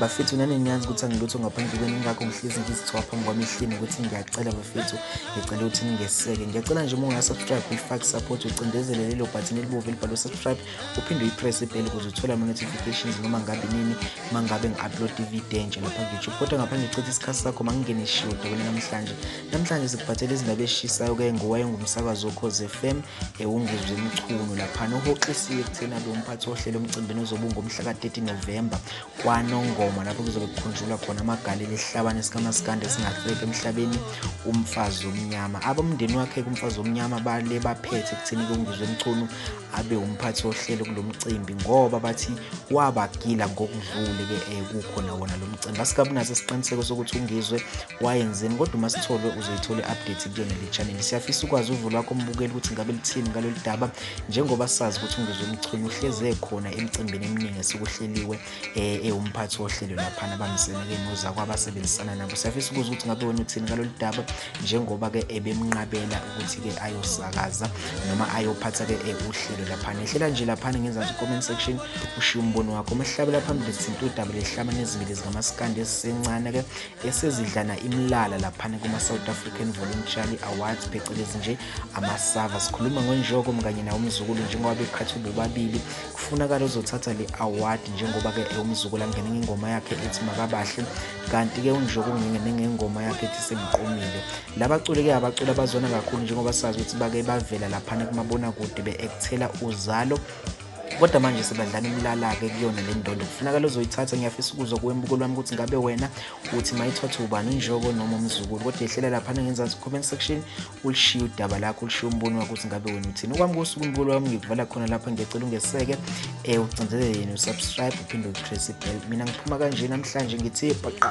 bafethu nani niyazi ukuthi angilutho ngaphandle kwenu ngakho ngihlezi ngizithiwa phambi kwami ehlini ukuthi ngiyacela bafethu ngicela ukuthi ningeseke ngiyacela nje uma ungasubscribe uyifake support ucindezele lelo bhathini elibovu elibhalwe subscribe uphinde uyipress ibheli ukuze uthole ama-notifications noma ngabe nini uma ngabe ngi-upload ivideo entsha lapha kuyoutube kodwa ngapha ngichitha isikhathi sakho ma ngingene ishiwo dabele namhlanje namhlanje sikuphathele izindaba ezishisayo ke ngowaye ngumsakazi wokhoze fm ewungizwe eh, umchunu laphana uhoxisiwe ekuthena lo mphathi wohlelo omcimbini ozobe ungomhla ka-30 novemba kwanongoma lapho kuzobe kukhunjulwa khona amagalelo esihlabane sikamasikande singahleki emhlabeni umfazi omnyama abomndeni wakhe kumfazi omnyama bale baphethe ekutheni kungizwe umchunu abe umphathi wohlelo kulo mcimbi ngoba bathi wabagila ngokudlule-ke um kukhona wona lo mcimbi asikabunaso isiqiniseko sokuthi ungizwe wayenzeni kodwa uma sitholwe uzoyithola i-update kuyona le channel siyafisa ukwazi uvo lwakho mbukeli ukuthi ngabe lithini ngalolu daba njengoba sazi ukuthi ungizwe umchunu uhlezi ekhona emicimbini eminingi esikuhleliwe eh, ewumphathi wohlelo laphana abamseneke noza kwabasebenzisana nabo siyafisa ukuza ukuthi ngabe wena uthini ngalolu daba njengoba-ke ebemnqabela ukuthi-ke ayosakaza noma ayophatha-ke eh, uhlelo laphana ehlela nje laphana ngenzansi comment section ushiye umbono wakho umehlabela phambili sithinta udaba lehlama nezimili zikamasikandi esisencane-ke esezidlana imlala laphana kuma-south african voluntarily awards phecelezi nje amasava sikhuluma ngonjoko mkanye nawo umzukulu njengoba beqhathwe bobabili kufunakala uzothatha le award njengoba-ke ewumzukulu angene ngengoma yakhe ethi makabahle kanti-ke unjoko ungengene ngengoma yakhe ethi sengiqomile labaculi-ke abaculi abazona kakhulu njengoba sazi ukuthi bake bavela laphana kumabonakude be-ekthela uzalo kodwa manje sibandlana umlala-ke kuyona le ndondo kufuneka lozoyithatha ngiyafisa ukuzwa kuwembuko lwami ukuthi ngabe wena uthi mayithothe ubani unjoko noma umzukulu kodwa yehlela laphana ngenzansi comment section ulishiye udaba lakho ulishiye umbono wakho ukuthi ngabe wena uthini okwami kosuku umbulo wami ngikuvala khona lapho ngiyacela ungeseke um ucinzelele yena usubscribe uphinde upress ibell mina ngiphuma kanje namhlanje ngithi baqa